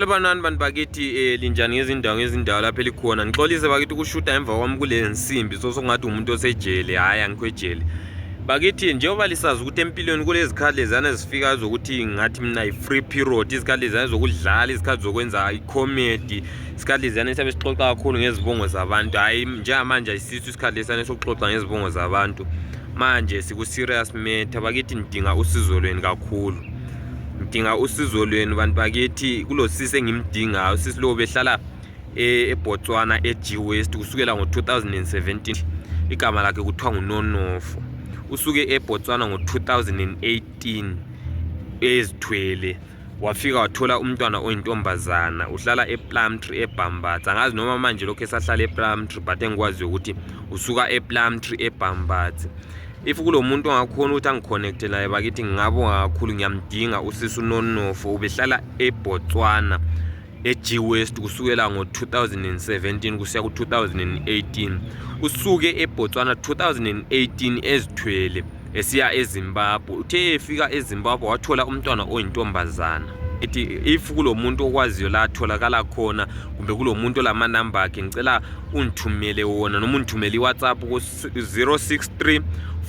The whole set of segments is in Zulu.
Lebanani bantu bakithi eh, linjani ngezindawo ngezindawo lapho elikhona ngixolise bakithi ukushuta emva kwami kule nsimbi so sokungathi umuntu osejele hhayi angikho ejele bakithi njengoba lisazi ukuthi empilweni kulezikhathi lezana ezifikayo zokuthi ngathi mina yi-free period izikhathi lezana zokudlala izikhathi zokwenza icomedy isikhathi lezana esiyabe sixoxa kakhulu ngezibongo zabantu hhayi njengamanje ayisiso isikhathi lesana sokuxoxa ngezibongo zabantu manje siku-serious matter bakithi nidinga usizo lweni kakhulu ngidinga usizo lwenu bantu bakithi kulo sisi engimdingayo usisi lowo behlala e, ebotswana e-g west kusukela ngo-2017 igama lakhe kuthiwa ngunonofo usuke ebotswana ngo-2018 ezithwele wafika wathola umntwana oyintombazana uhlala eplumtree ebhambatha angazi noma manje lokhu esahlala eplumtree but engikwaziyo ukuthi usuka eplumtree ebhambatha if kulomuntu ongakhona ukuthi angiconnecte laye bakithi ngingabonga kakhulu ngiyamdinga usisi unonofo ubehlala ebotswana e-g west kusukela ngo-2017 kusiya ku-2018 usuke ebotswana 2018 ezithwele esiya ezimbabwe uthe efika ezimbabwe wathola umntwana oyintombazana ithi if kulo muntu okwaziyo la atholakala khona kumbe kulo muntu olamanamba akhe ngicela ungithumele wona noma ungithumele iwhatsapp 063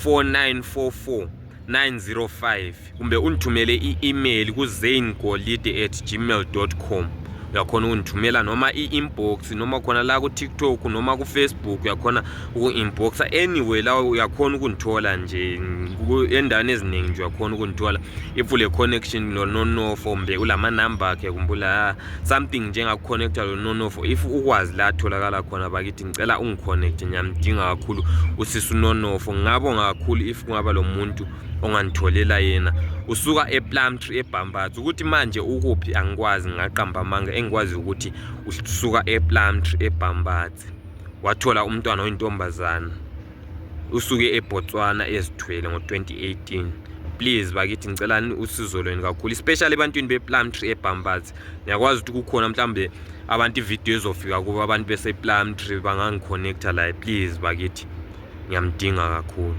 4944 905 kumbe ungithumele i-email kuzaingolide at gmail com uyakhona ukungithumela noma i-inbox noma khona la ku-tiktok noma ku-facebook uyakhona uku-inboxa anyway la uyakhona ukungithola nje endaweni eziningi nje uyakhona ukungithola if ule-connection nononofo kumbe ulamanamba akhe kumbula something njengakuconnecta lo nonofo if ukwazi la atholakala khona bakithi ngicela ungiconnecte ngiyamdinga kakhulu usisi unonofo ngingabonga kakhulu if kungaba lo muntu ongangitholela yena usuka eplumtree ebhambatha ukuthi manje ukuphi angikwazi ngingaqamba amanga engikwazi ukuthi usuka eplumtree ebhambatha wathola umntwana oyintombazana usuke eBotswana ezithwele ngo-2018 please bakithi ngicela usizo lweni kakhulu especially ebantwini be-plumtree ebhambazi ngiyakwazi ukuthi kukhona mhlawumbe abantu ividiyo ezofika kubo abantu bese-plumtree bangangikhonekta laye please bakithi ngiyamdinga kakhulu